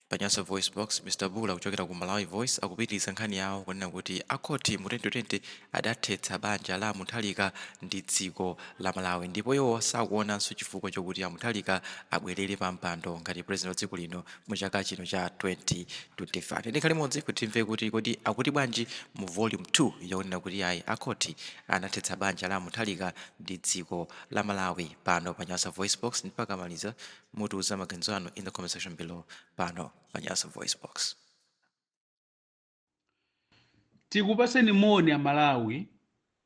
Pa Nyasa VoiceBox, Mr Bula kuchokera ku Malawi Voice akupitiliza nkhani yawo kunena kuti a khoti mu 2020 adathetsa banja la a Mutharika ndi dziko la Malawi ndipo iwo sakuonanso chifukwa chokuti a Mutharika abwelere pa mpando ngati president wa dziko lino mu chaka chino cha 2025. Tikhale limodzi kuti timve kuti kodi akuti bwanji mu volume 2 yakunena kuti ayi a khoti anathetsa banja la a Mutharika ndi dziko la Malawi pano pa Nyasa VoiceBox mpaka maliza Mutiuze maganizo anu in the comment section below pano pa Nyasa VoiceBox. Tikupaseni moni a Malawi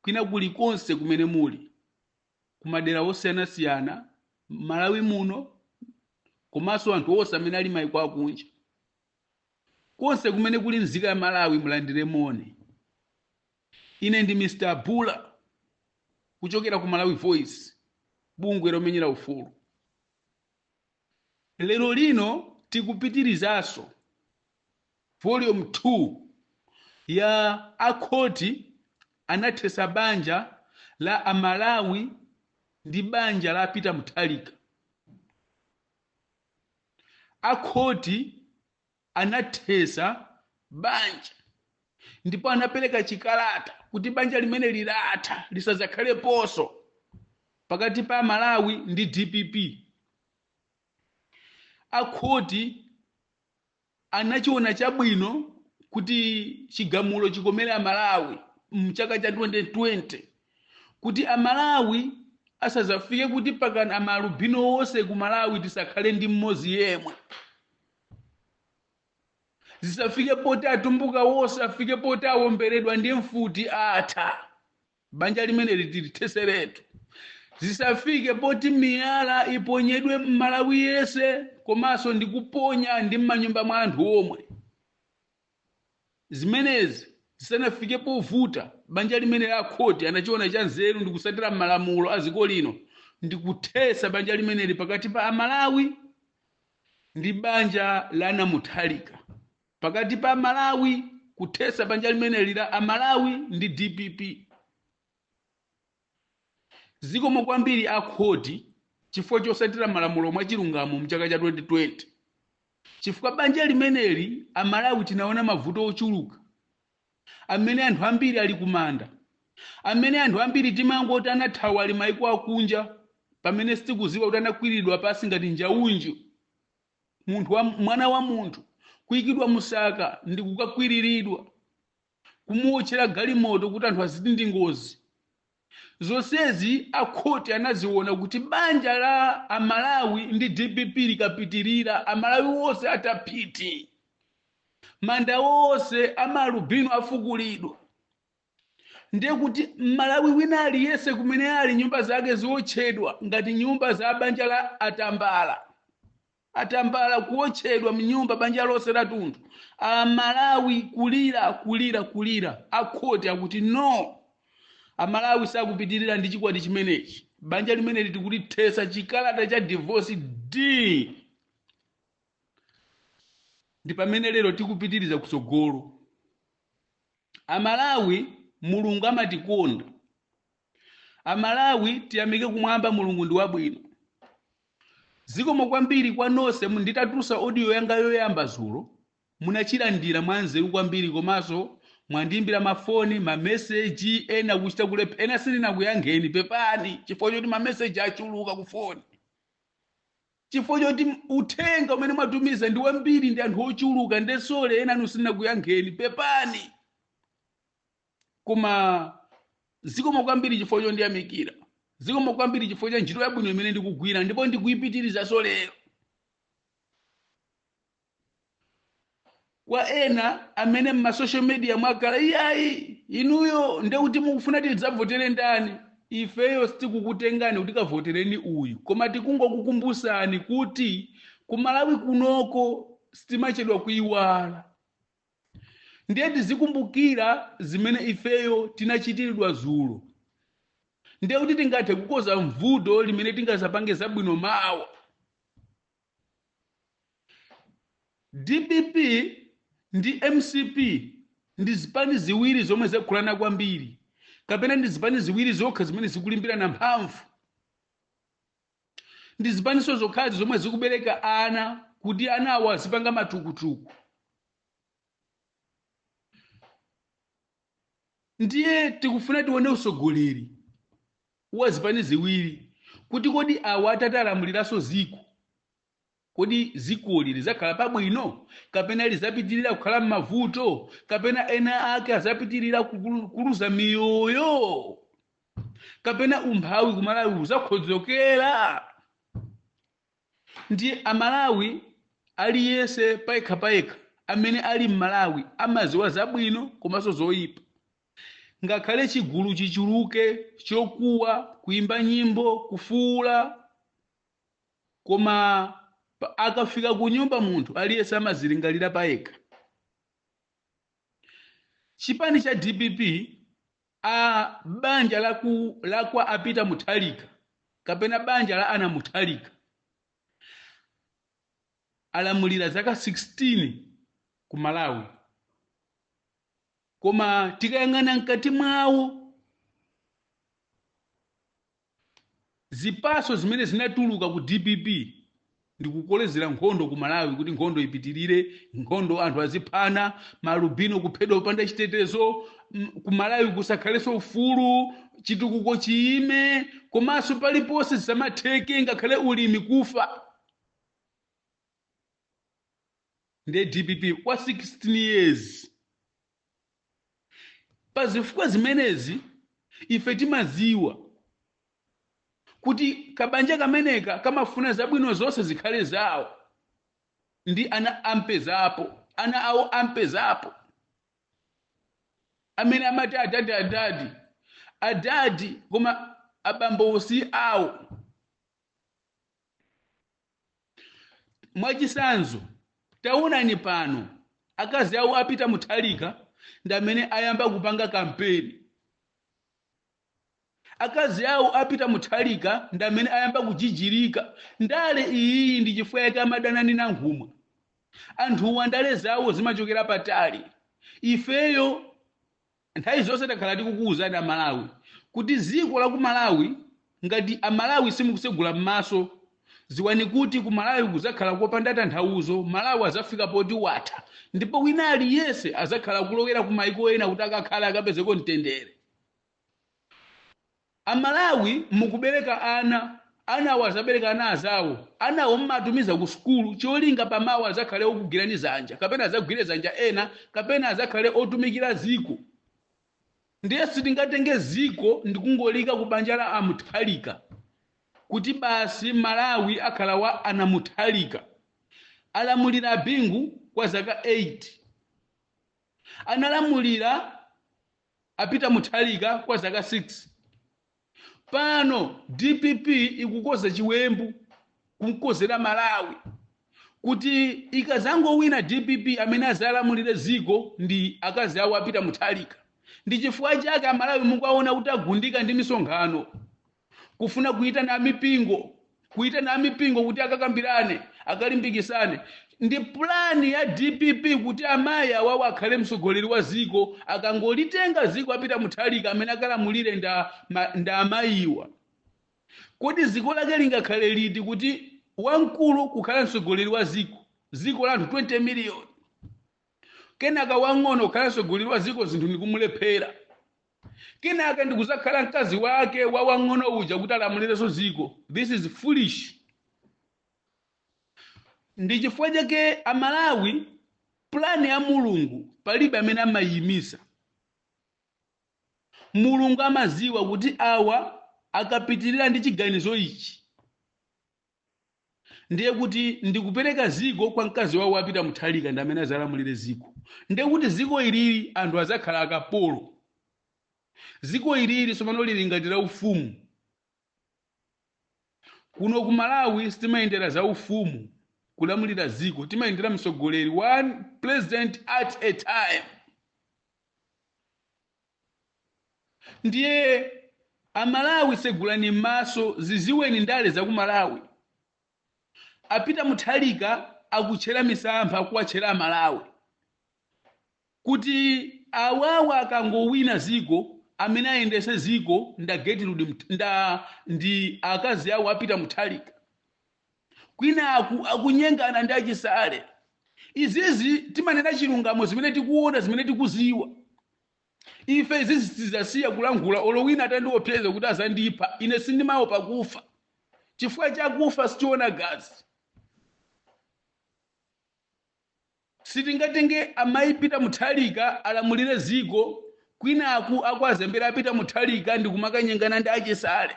kwina kulikonse kumene muli kumadera osiyanasiyana Malawi muno komanso anthu onse amene ali maiko akunja konse kumene kuli nzika ya Malawi mulandire moni Ine ndi Mr Bula kuchokera ku Malawi Voice, bungwe lomenyera ufulu. Lero lino tikupitirizaso volume 2 ya a khoti anathesa banja la a Malawi ndi banja la Peter Mutharika. A khoti. anathetsa banja ndipo anapereka chikalata kuti banja limeneli latha lisadzakhaleponso pakati pa malawi ndi dpp akhoti anachiona chabwino kuti chigamulo chikomere amalawi mchaka cha 2020 kuti amalawi asazafike kuti pakana amalubino wonse ku malawi tisakhale ndi mmodzi yemwe zisafike poti atumbuka wonse afike poti awomberedwa ndi mfuti atha banja limeneli tilithetseretu zisafike poti miyala iponyedwe mmalawi yese komanso ndi kuponya ndi mmanyumba mwa anthu omwe Zimenezi zisanafike povuta, banja limeneli a khoti anachiona chanzeru ndi kusatira malamulo a ziko lino ndi kuthetsa banja limeneli pakati pa a Malawi ndi banja la ana Mutharika, pakati pa a Malawi kuthetsa banja limeneli la a Malawi ndi dpp. Zikomo kwambiri a khoti chifukwa chosatira malamulo mwachilungamo mchaka cha 2020 chifukwa banja limeneli a Malawi tinaona mavuto ochuluka amene anthu ambiri ali kumanda amene anthu ambiri timangoti anathawa ali maiko akunja pamene sitikuziwa kuti anakwililidwa pasi ngati Njaunju munthu wa, mwana wa munthu kuikidwa musaka ndi kukakwililidwa kumuotchera galimoto kuti anthu aziti ndi ngozi zonsezi akhoti anaziona kuti banja la amalawi ndi dpp likapitirira amalawi onse atha phiti manda onse amalubino afukulidwa ndiye kuti mmalawi wina aliyense kumene ali nyumba zake ziotchedwa ngati nyumba za banja la atambala atambala kuotchedwa mnyumba banja lonse lathunthu amalawi kulira kulira kulira akhoti akuti no amalawi sakupitirira ndi chikwati chimenechi banja limeneli tikulithetsa chikalata cha divorce d ndi pamene lero tikupitiriza kutsogolo amalawi mulungu amatikonda amalawi tiyamike kumwamba mulungu ndi wabwino zikomo kwambiri kwa nonse mu- nditatulutsa audio yanga yoyamba zulo munachilandira mwanzeru kwambiri komanso mwandiimbira mafoni mameseji ena kuchita kulephera ena sindinakuyankheni pepani chifukwa choti mameseji achuluka kufoni chifukwa choti uthenga umene mwatumiza ndi wambiri ndi anthu ochuluka ndesole enanu sindinakuyankheni pepani koma zikomo kwambiri chifukwa chondiyamikira zikomo kwambiri chifukwa cha ntchito yabwino imene ndikugwira ndipo ndikuipitirizaso lero kwa ena amene m'masocial media mwakhala iyayi inuyo nde kuti mukufuna tidzavotere ndani ifeyo sitikukutengani kuti kavotereni uyu koma tikungokukumbutsani kuti kumalawi kunoko sitimachedwa kuiwala ndiye tizikumbukira zimene ifeyo tinachitiridwa zulo ndiye kuti tingathe kukoza mvuto limene tingazapange zabwino mawa dpp ndi mcp ndi zipani ziwiri zomwe zakulana kwambiri kapena ndi zipani ziwiri zokha zimene zikulimbirana mphamvu ndi zipaninso zokhazi zomwe zikubereka ana kuti anawo azipanga matukutuku ndiye tikufuna tione usogoleri wa zipani ziwiri kuti kodi awa atati alamuliranso ziko Kodi dzikoli lidzakhala pabwino, kapena lidzapitirira kukhala m'mavuto, kapena ena ake adzapitirira kukulu- kuluza miyoyo, kapena umphawi kumalawi udzaonjezekera? Ndiye amalawi aliyense payekhapayekha amene ali m'malawi amadziwa zabwino komanso zoyipa. Ngakhale chigulu chichuluke chokuwa, kuyimba nyimbo, kufuwula, Koma pa- akafika ku nyumba munthu aliyense amazilingalira payekha. Chipani cha DPP a banja la ku- la kwa a Peter Mutharika kapena banja la ana Mutharika alamulira zaka 16 ku Malawi. Koma tikayang'ana mkati mwawo Zipaso zimene zinatuluka ku dpp ndi kukolezera nkhondo ku Malawi kuti nkhondo ipitilire, nkhondo anthu aziphana, ma alubino kuphedwa popanda chitetezo, mm, ku Malawi kusakhalenso ufulu, chitukuko chiyime, komanso paliponse zisamatheke ngakhale ulimi kufa. Nde dpp kwa 16 years. Pa zifukwa zimenezi, ife timaziwa kuti kabanja kameneka kamafuna zabwino zonse zikhale zawo ndi ana ampezapo, ana awo ampezapo, amene amati adadi adadi adadi koma abambowo si awo. mwachisanzo taonani pano akazi awo a Peter Mutharika ndi amene ayamba kupanga kampeni akazi awo a Peter Mutharika ndi amene ayamba kujijirika ndale iyiyi ndi chifukwa yake amadana ndi Nankhumwa anthuwa ndale zawo zimachokera patali ifeyo Nthawi zonse takhala tikukuuzani a Malawi kuti ziko la ku Malawi ngati a Malawi simukusegula mmaso ziwani kuti ku Malawi kuzakhala kopanda tanthauzo Malawi azafika poti watha ndipo wina aliyense azakhala akulowera ku maiko ena kuti akakhale akapezeko mtendere. Amalawi mukubereka ana, anawo azabereka ana azawo, anawo mmatumiza ku sukulu cholinga pa mawa azakhale okugwirani zanja kapena azagwire zanja ena kapena azakhale otumikira ziko ndiye sitingatenge ziko ndi kungoliika ku banja la a Mutharika kuti basi Malawi akhala wa ana Mutharika. Alamulira a Bingu kwa zaka 8. Analamulira a Peter Mutharika kwa zaka 6. Pano dpp ikukoza chiwembu kumkozera Malawi kuti ikazangowina dpp amene azalamulire ziko ndi akazi awo a Peter Mutharika. Ndi chifukwa chake Amalawi mukuwaona kuti agundika ndi misonkhano. kufuna kuyitana amipingo kuyitana amipingo kuti akakambirane akalimbikisane ndi pulani ya dpp kuti amayi awawo akhale mtsogoleri wa ziko akangolitenga ziko a pita muthalika amene akalamulire nda, ma, nda amayiwa kodi ziko lake lingakhale liti kuti wamkulu kukhala mtsogoleri wa ziko ziko la anthu 20 miliyoni kenaka wang'ono kukhala mtsogoleri wa ziko zinthu ndikumulephera kenaka ndikuzakhala mkazi wake wa wang'ono uja kuti alamulirenso ziko this is foolish ndi chifukwa chake amalawi pulani ya mulungu palibe amene amayiyimisa mulungu amaziwa kuti awa akapitirira ndi chiganizo ichi ndiye kuti ndikupereka ziko kwa mkazi wawo wa pita muthalika ndi amene azalamulire ziko ndiye kuti ziko ilili anthu azakhala akapolo ziko ilili sopano lili ngati la ufumu kuno ku malawi sitimayendera za ufumu kulamulira ziko timayendera mtsogoleri one president at a time Ndiye a Malawi segulani mmaso ziziweni ndale za ku Malawi. A Peter Muthalika akutchera misampha akuwatchera a Malawi kuti awawa akangowina ziko amene ayendese ziko nda Getrude Mt- nda ndi akazi awo a Peter Muthalika. kwinaku akunyengana ndi achisale izizi timanena chilungamo zimene tikuona zimene tikuziwa ife izizi sitizasiya kulankhula olo wina atandiopseza kuti azandipha ine sindimaopa kufa chifukwa chakufa sichiona gazi Sitingatenge amai pita muthalika alamulire ziko kwinaku akuwazembera a pita muthalika ndikumakanyengana ndi achisale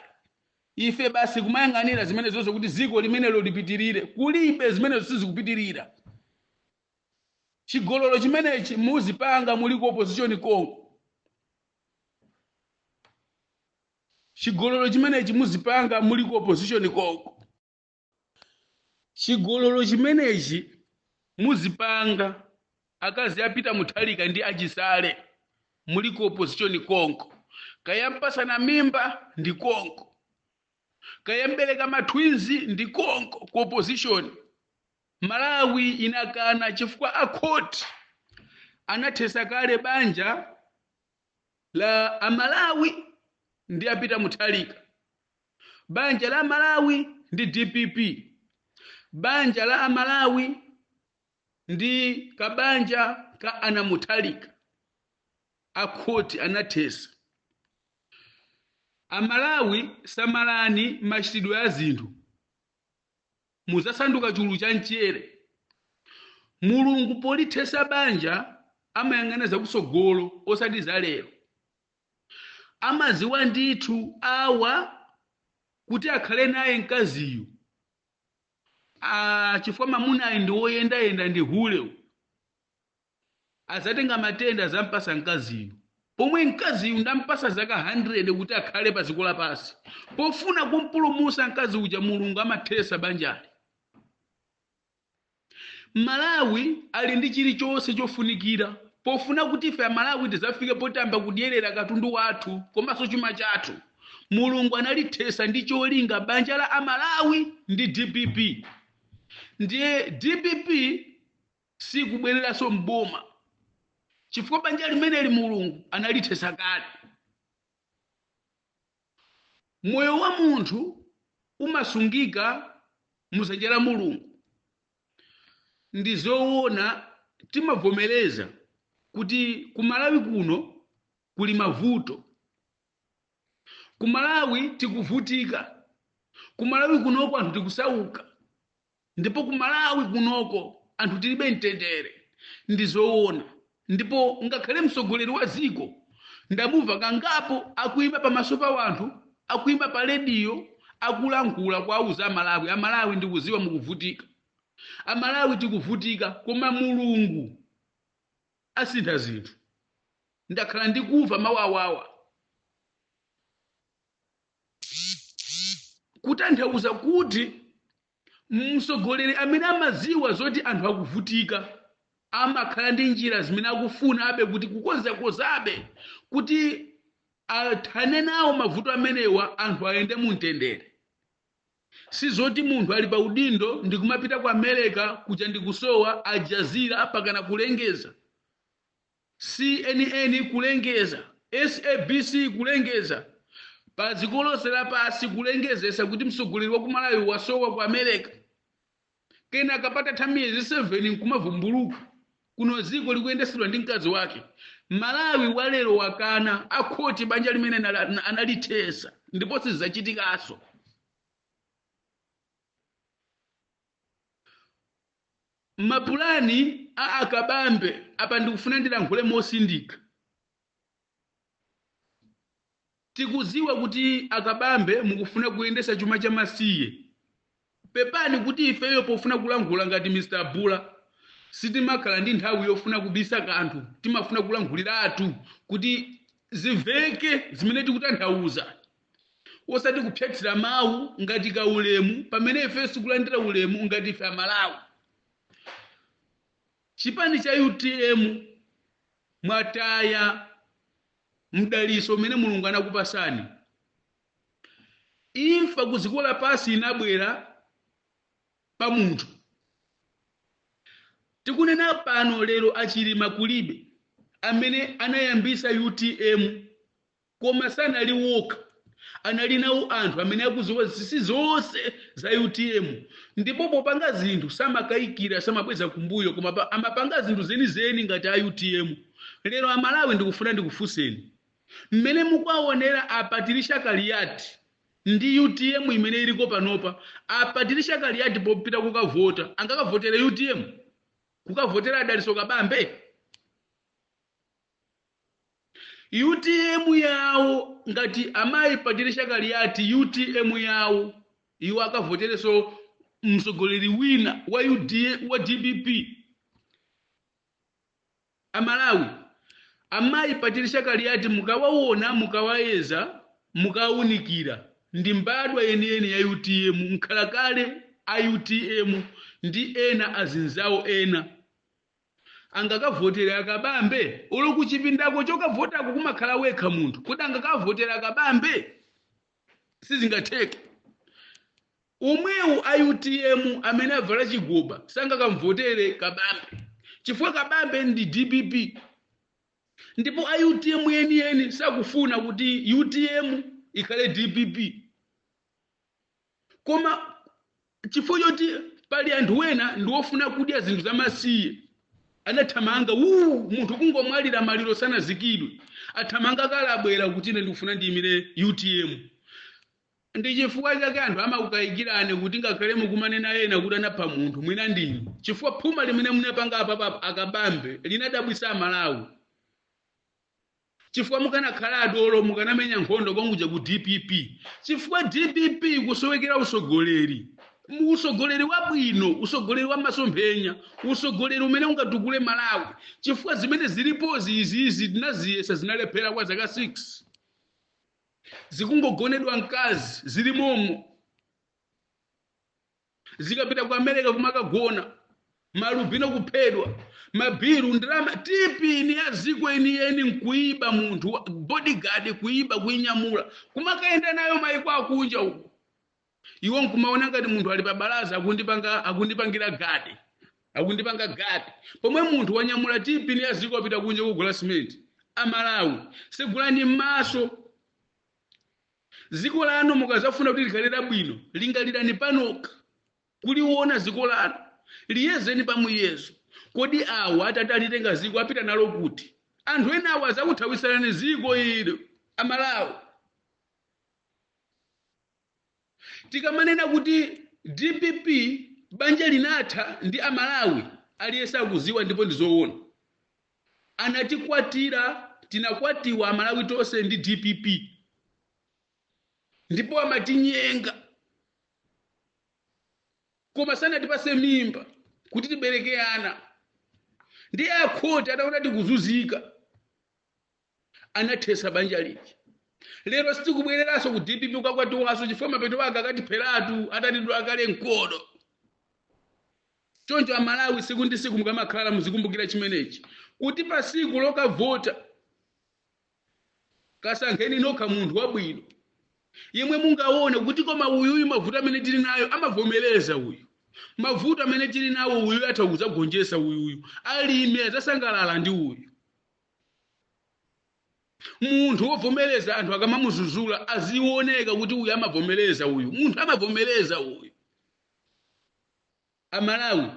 ife basi kumayang'anira zimenezozo kuti ziko limenelo lipitilire kulibe zimenezo sizikupitilira chigololo chimenechi muzipanga muli ku opposition konko chigololo chimenechi muzipanga muli ku opposition konko. chigololo chimenechi muzipanga akazi a pita muthalika ndi achisale muli ku opposition konko kaya mpasana mimba ndi konko kaya mbereka mathwinzi ndi konko ku opposition malawi inakana chifukwa akhoti anathesa kale banja la amalawi ndi a pita muthalika Banja la a Malawi ndi dpp, banja la a Malawi ndi kabanja ka ana Mutharika, a khoti anathesa. A Malawi samalani machitidwe a zinthu, muzasanduka chulu cha mchere. Mulungu polithesa banja amayang'ana zakutsogolo osati za lero. Amadziwa ndithu awa kuti akhale naye mkaziyu. Ah, chifukwa mamunayu ndi woyendayenda ndi huleyu. Adzatenga matenda adzampasa mkaziyu. Pomwe mkaziyu ndampasa zaka 100 kuti akhale pa dziko lapansi. Pofuna kumpulumusa mkazi uja Mulungu amathesa banjali. Malawi ali ndi chilichonse chofunikira pofuna kuti ife amalawi tizafike potayamba kudyerera katundu wathu komanso chuma chathu. Mulungu analithesa ndi cholinga banja la a Malawi ndi dpp. Ndiye dpp sikubwereranso m'boma chifukwa banja limeneli Mulungu analithesa kale. Moyo wa munthu umasungika mu zanja la Mulungu. Ndi zoona timavomereza kuti ku Malawi kuno kuli mavuto. Ku Malawi tikuvutika. Ku Malawi kunoko anthu tikusauka. Ndipo ku Malawi kunoko anthu tilibe mtendere ndizoona ndipo ngakhale mtsogoleri wa dziko ndamumva kangapo akuima pamaso pa wanthu akuima pa lediyo akulankhula kuwauza amalawi amalawi ndikuziwa mukuvutika amalawi tikuvutika koma mulungu asintha zinthu ndakhala ndikuva mawu awawa kutanthauza kuti mtsogoleri amene amadziwa zoti anthu akuvutika amakhala ndi njira zimene akufunabe kuti kukonzakonzabe kuti athane nawo mavuto amenewa anthu ayende mu mtendere si zoti munthu ali pa udindo ndi kumapita ku america kuja ndikusowa Al Jazeera pakana kulengeza CNN kulengeza, SABC kulengeza, padziko lonse lapansi kulengezesa kuti mtsogoleri wa ku Malawi wasowa ku America. Kenaka patatha miyezi 7 nkumavumbuluka kuno dziko likuyendesedwa ndi mkazi wake. Malawi walero wakana akhoti banja limene analithesa ndipo sizachitikaso. mapulani a a kabambe apa ndikufuna ndilankhule mosindika tikuziwa kuti a kabambe mukufuna kuyendesa chuma cha masiye pepani kuti ifeyo pofuna kulankhula ngati mr bula sitimakhala ndi nthawi yofuna kubisa kanthu timafuna kulankhuliratu kuti ziveke zimene tikutanthauza osati kuphsatira mawu ngati kaulemu pamene ifeyo sitikulandira ulemu ngati ife amalawi chipani cha utm mwataya mdaliso umene mulungu anakupasani imfa ku ziko lapansi inabwera pa munthu tikunena pano lero a chilima kulibe amene anayambisa utm koma sanali wokha anali nawo anthu amene akuziwa zinsinsi zonse za utm ndipo popanga zinthu samakayikira samabweza kumbuyo koma amapanga zinthu zenizeni ngati a utm lero amalawi ndikufuna ndikufunseni mmene mukuwaonera a Patricia Kaliati ndi utm imene iliko panopa a Patricia Kaliati popita kukavota angakavotere utm kukavotera a daliso kabambe Utm yawo ngati amayi Patricia Kaliati utm yawo iwo akavotereso msogoleri wina wa dpp amalawi amayi Patricia Kaliati mukawawona mukawayeza mukawaunikira ndi mbadwa yeniyeni ya utm mkhalakale a utm ndi ena azinzawo ena angakavotere a kabambe olo kuchipindako chokavotako kumakhala wekha munthu kodi angakavotere a kabambe sizingatheke omwewu a utm amene avala chigoba sangakamuvotere kabambe chifukwa kabambe ndi dpp ndipo a utm yeniyeni sakufuna kuti utm ikhale dpp koma chifukwa choti pali anthu ena ndi ofuna kudya zinthu zamasiye anathamanga uu munthu kungomwalira maliro sanaikidwe athamanga kale abwera kuti ine ndikufuna ndiyimire utm ndi chifukwa chake anthu amakukayikirani kuti ngakhale mukumanena ena kuti anapha munthu mwina ndinu chifukwa phuma limene munapanga apapa a kabambe linadabwisa amalawi chifukwa mukanakhala adolo mukanamenya nkhondo konkuja ku dpp chifukwa dpp ikusowekera usogoleri u- usogoleri wabwino usogoleri wa masomphenya usogoleri umene ungatukule malawi chifukwa zimene zilipozi izizi tinaziyesa zinalephera kwa zaka 6 zikungogonedwa mkazi zili momo zikapita ku america kumakagona malubino kuphedwa mabiru ndalama tipini ya ziko yeniyeni nkuiba munthu wa bodyguard kuiba kuinyamula kumakayenda nayo maiko akunja uko iwo nkumaona ngati munthu ali pabalaza akundipanga akundipangira gadi akundipanga gadi pomwe munthu wanyamula tipini ya ziko apita kunja kugula simenti amalawi segulani m'maso Ziko lanu mukazafuna kuti likhalire bwino, lingalirani panokha. Kuliwona ziko lanu, liyezeni pa muyezo. Kodi awa atati alitenga ziko apita nalo kuti? Anthu enawa azakuthawisirani ziko ilo, a Malawi. Tikamanena kuti dpp banja linatha ndi a Malawi, aliyense akuziwa ndipo ndi zoona. anatikwatira tinakwatiwa amalawi tonse ndi dpp ndipo amatinyenga koma sanatipase mimba kuti tibereke ana ndiye akhoti ataona tikuzuzika anathesa banja lija lero sitikubwereranso ku dpp kukakwatiwanso chifukwa mapeto ake akatipheratu atatidula kale mkodo choncho amalawi siku ndi siku mukamakhala muzikumbukira chimenechi kuti pa siku lokavota kasankheni nokha munthu wabwino yemwe mungaone kuti koma uyuyu mavuto amene tili nayo amavomereza uyu mavuto amene tili nawo uyu atha kuzagonjesa uyuyu alimi azasangalala ndi uyu munthu wovomereza anthu akamamuzuzula aziwoneka kuti uyu amavomereza uyu munthu amavomereza uyu amalawi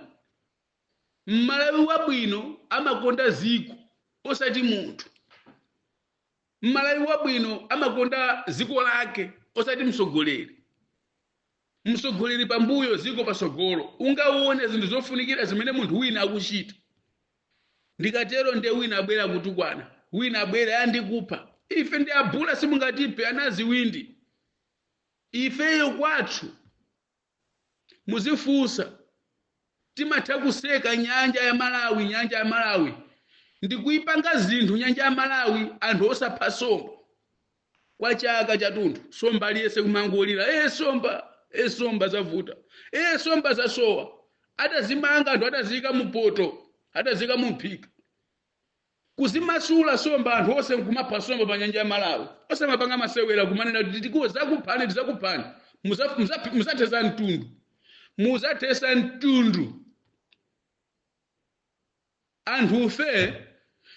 mmalawi wabwino amakonda ziko osati munthu mmalawi wabwino amakonda ziko lake osati msogoleri Msogoleri pambuyo, ziko patsogolo. Ungawone zinthu zofunikira zimene munthu wina akuchita. Ndikatero nde wina abwera kutukwana, wina abwera, ah, ndikupha. Ife ndi a Bula simungatiphe, anaziwindi. Ifeyo kwathu. Muzifunsa. Timatha kuseka nyanja ya Malawi nyanja ya Malawi ndikuipanga zinthu nyanja ya Malawi anthu osapha somba kwa chaka chatunthu somba aliyese kumangolira e somba e somba zavuta e somba zasowa atazimanga anthu ataziyika mupoto ataziyika mumphika Kuzimasula somba anthu onse nkumapha somba pa nyanja ya Malawi. Osamapanga masewela kumanena kuti tiku zakuphani tizakuphani. Muza muza muzathesa mtundu. Muzathesa mtundu. Anthufe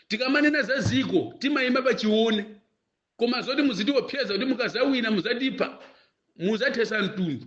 tikamanena za ziko timayima pa chiwone. Koma zoti muzitiwopseza kuti mukazawina muzatipha muzathesa mtundu.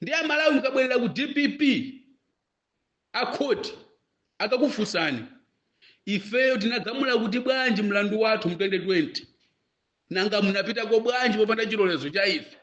Ndiye aMalawi mukabwerera ku DPP akhoti akakufunsani ifeyo tinagamula kuti bwanji mlandu wathu mu 2020 nanga munapitako bwanji popanda chilolezo cha ife